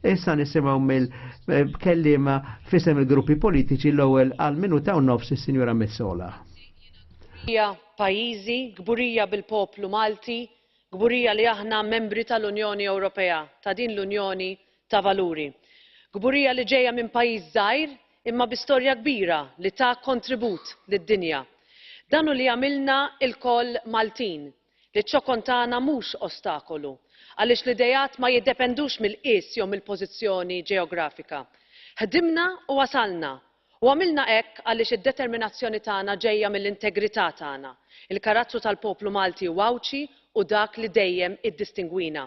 Issa nisimaw mill-kellima eh, fisem il-gruppi politiċi l-ewwel għal minuta u nofs is-Sinjura Messola. Hija pajjiżi gburija bil-poplu Malti, gburija li aħna membri tal-Unjoni Ewropea, ta' din l-Unjoni ta' valuri. Kburija li ġejja minn pajjiż żgħir imma bi storja kbira li ta kontribut lid-dinja. Dan hu li jagħmilna lkoll Maltin, li ċ-ċokon tagħna mhux ostakolu, għaliex l-ideat ma jiddependux mill-qies jew mill-pożizzjoni ġeografika. Ħdimna u wasalna U għamilna hekk għaliex id-determinazzjoni tagħna ġejja mill-integrità tagħna, il-karattru tal-poplu Malti u Għawdxi hu dak li dejjem iddistingwina.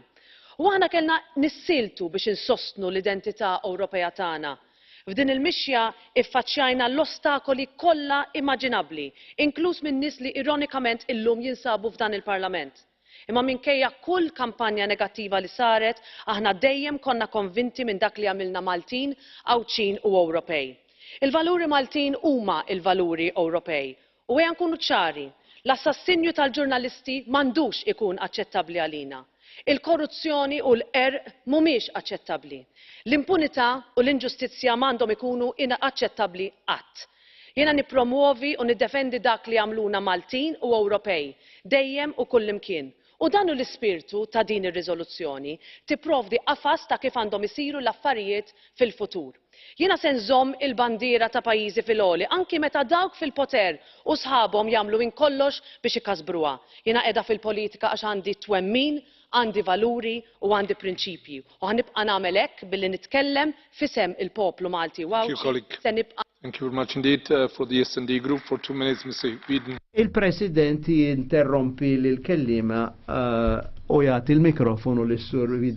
U aħna kellna nissieltu biex insostnu l-identità Ewropea tagħna. F'din il-mixja iffaċċjajna l-ostakoli kollha imaġinabbli, inkluż minn nies li ironikament illum jinsabu f'dan il-Parlament. Imma minkejja kull kampanja negattiva li saret, aħna dejjem konna konvinti minn dak li jagħmilna Maltin, Għawdxin u Ewropej. Il-valuri Maltin huma l-valuri Ewropej. U ejja nkunu ċari, l-assassinju tal-ġurnalisti m'għandux ikun aċċettabbli għalina. Il-korruzzjoni u l-qerq mhumiex aċċettabbli. L-impunità u l-inġustizzja m'għandhom ikunu inaċċettabbli qatt. Jiena nippromwovi u niddefendi dak li jagħmluna Maltin u Ewropej, dejjem u kullimkien. U dan hu l-ispirtu ta' din ir-riżoluzzjoni, tipprovdi qafas ta' kif għandhom isiru l-affarijiet fil-futur. Jiena se nżomm il-bandiera ta' pajjiżi fil-għoli anki meta dawk fil-poter u sħabhom jagħmlu minn kollox biex ikasbruha. Jiena qiegħda fil-politika għax għandi twemmin Għandi valuri u għandi prinċipji u ħa nibqa' nagħmel hekk billi nitkellem f'isem il-poplu Malti u Għawdxi se nibqa' Thank you very much indeed. For the SD Group for two minutes Mr Whedon. Il-President jinterrompi lill-kelliema u jagħti l-mikrofonu lis-Sur Whedon.